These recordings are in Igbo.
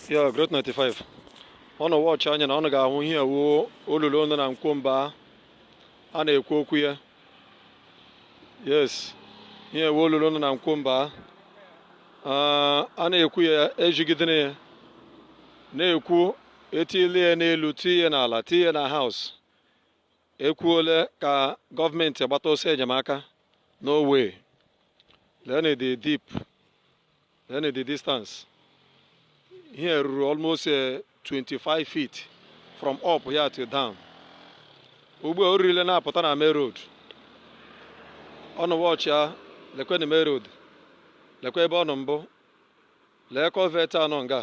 yeah Growth 95 ọnụ watch anya na ọnụ ga-ahụ ihe wụ olulu nọ na Nkwọ Mbaa a na-ekwu okwu ya yes ihe wụ olulu nọ na Nkwọ Mbaa a na-ekwu ya ejigidere ya na-ekwu etile ya n'elu tie n'ala tie na House ekwuole ka gọọmenti gbata ọsọ enyemaka no way leenụ the deep Then the distance ihe ruru almost 25 eh, feet from up here to down. Ugbu a o ririle na-apụta na main road. Ọnụ watch ya lekwenụ main road lekwe ebe ọ nọ mbụ lee culvert nọ nga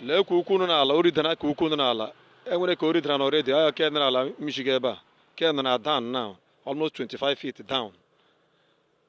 lee ke ukwu nọ n'ala o ridana ke ukwu nọ n'ala e nwere ke o ridara already ahụ ke nọ n'ala mmichiga ebe a ke nọ na down now almost 25 feet down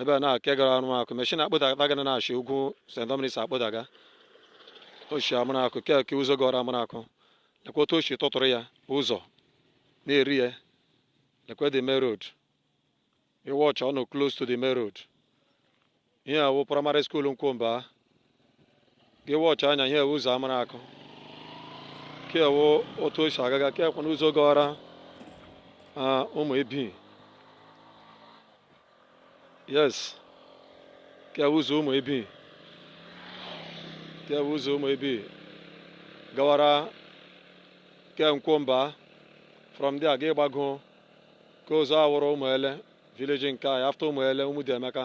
ebe a nke gara Amaraku machine akpụdaga gị na-eshi ugwu St Dominic akpụdaga o shi Amaraku ke ke ụzọ gara Amaraku lekwa otu o shi tụtụrụ ya ụzọ na-eri ya lekwa the main road ị watch ya ọ nọ close to the main road ihe a wụ primary school Nkwọ Mbaa gị watch anya ihe a wụ ụzọ Amaraku ke a wụ otu o si agaga ke a kwa ụzọ gara ah, Ụmụebi yes ke a wụ ụzọ Ụmụebi ke a wụ ụzọ Ụmụebi gawara ke Nkwọ Mbaa from there gị gbago ke ụzọ a wụrụ Ụmụele village nke anyị after Ụmụele Ụmụdiemeka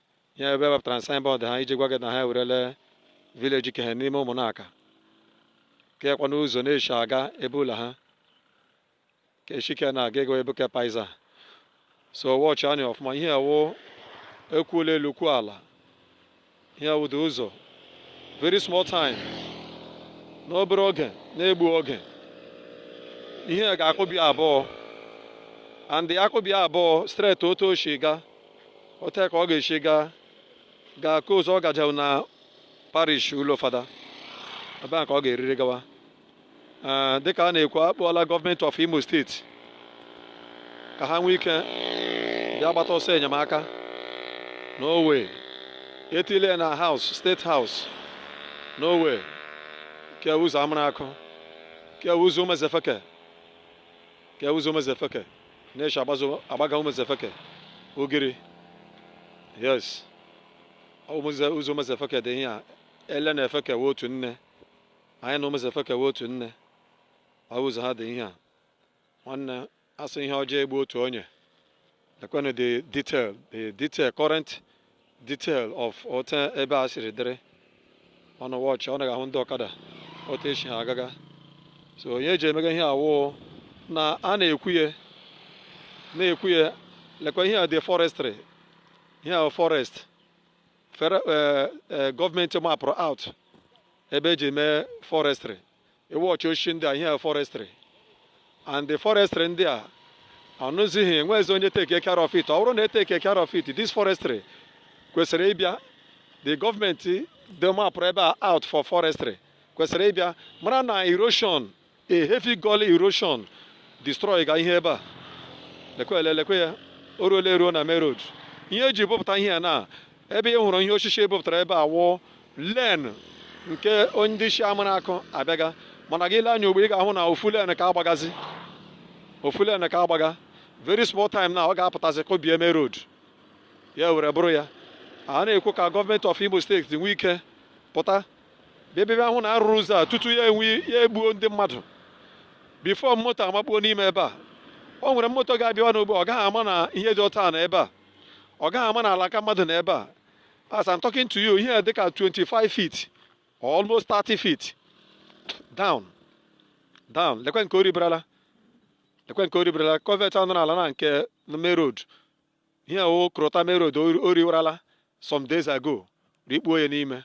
ya ebe wepụtara na signboard ha iji gwa gị na ha ewerele village ke he n'ime Ụmụnaka ke a kwa ụzọ na-eshi aga ebe ụlọ ha ka eshike na-aga ego ebe ke paiza so watch anya ọfụma ihe a wụ e kwuola elu kwuo ala ihe a wụdị ụzọ very small time n'obere oge na-egbu oge ihe ga-akụbi abụọ and akụbi abụọ straight otu o shi ga otu a ka ọ ga-esi gaa gaa ka ụzọ ọ gajewu na parish ụlọ fada ebe a ka ọ ga-eriri gawa Ee, dịka a na-ekwu akpọọla gọọmenti of Imo State ka ha nwee ike bịa gbata ọsọ enyemaka no way etile ya na House State House no way ke a ụzọ Amaraku ke a ụzọ Ụmụezefeke ke ụzọ Ụmụezefeke na-eshi agbazo agbaga Ụmụezefeke Ugiri yes ụmụze ụzọ Ụmụezefeke dị ihe a Ele na Efeke wụ otu nne anyị na Ụmụezefeke wụ otu nne ọ bụ ụzọ ha dị ihe a nwanne a sị ihe ọjọọ egbu otu onye lekwenụ the detail the detail current detail of otu ebe a siri dịrị unu wọchịa unu ga-ahụ ndị ọkada otu e si ha agaga so ihe e ji emega ihe a wụ na a na-ekwu ya na-ekwu ya lekwa ihe a dị forestry ihe a forest eh, eh, gọọmenti mapụrụ out ebe e ji mee forestry ị wọchịa osisi ndị a ihe forestry and the forestry ndị a o nwezighị e nweghịzi onye take care of it ọ bụrụ na e take care of it this forestry kwesịrị ịbịa the gọọmenti ndị mapụrụ ebe a out for forestry kwesịrị ịbịa mara na erosion a heavy gully erosion destroy ga ihe ebe a lekwele lekwe ya o ruola eruo na main road ihe e ji bupụta ihe a na ebe ị hụrụ ihe osisi e bupụtara ebe a wụ lane nke ndị si Amaraku abịaga mana gị lee anya ugbu a ị ga-ahụ na ofu lane ka a gbagazi ofu lane ka a gbaga very small time na ọ ga-apụtazi kụbie main road ya were bụrụ ya a na-ekwu ka gọọmenti of Imo State nwee ike pụta bịa ahụ na a rụrụ ụzọ a tutu ya enwe ya egbuo ndị mmadụ before moto amakpuo n'ime ebe a o nwere moto ga-abịawa n'ugbu a ọ gaghị ama na ihe dị otu a na ebe a ọ gaghị ama na ala ka mmadụ na ebe a as I'm talking to you ihe dịka 25 feet or almost 30 feet down down lekwe nke o ribirala lekwe nke o ribirala culvert a nọ n'ala na nke main road ihe o ruta main road o riwarala some days ago rikpuo ya n'ime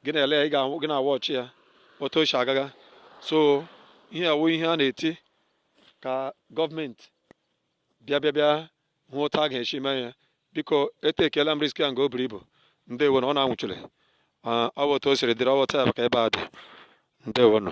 gị na-ele ya gị na-awọchị ya otu o si agaga so ihe a wụ ihe a na-eti ka gọọmenti bịa bịa bịa hụ otu a ga-esi mee ya biko etakeela m risk a nga o buru ibu ndewo nụ unu awọchịla ọ bụ otu o siri dịrị ọ bụ otu ya bụ ka ebe a dị ndewo nụ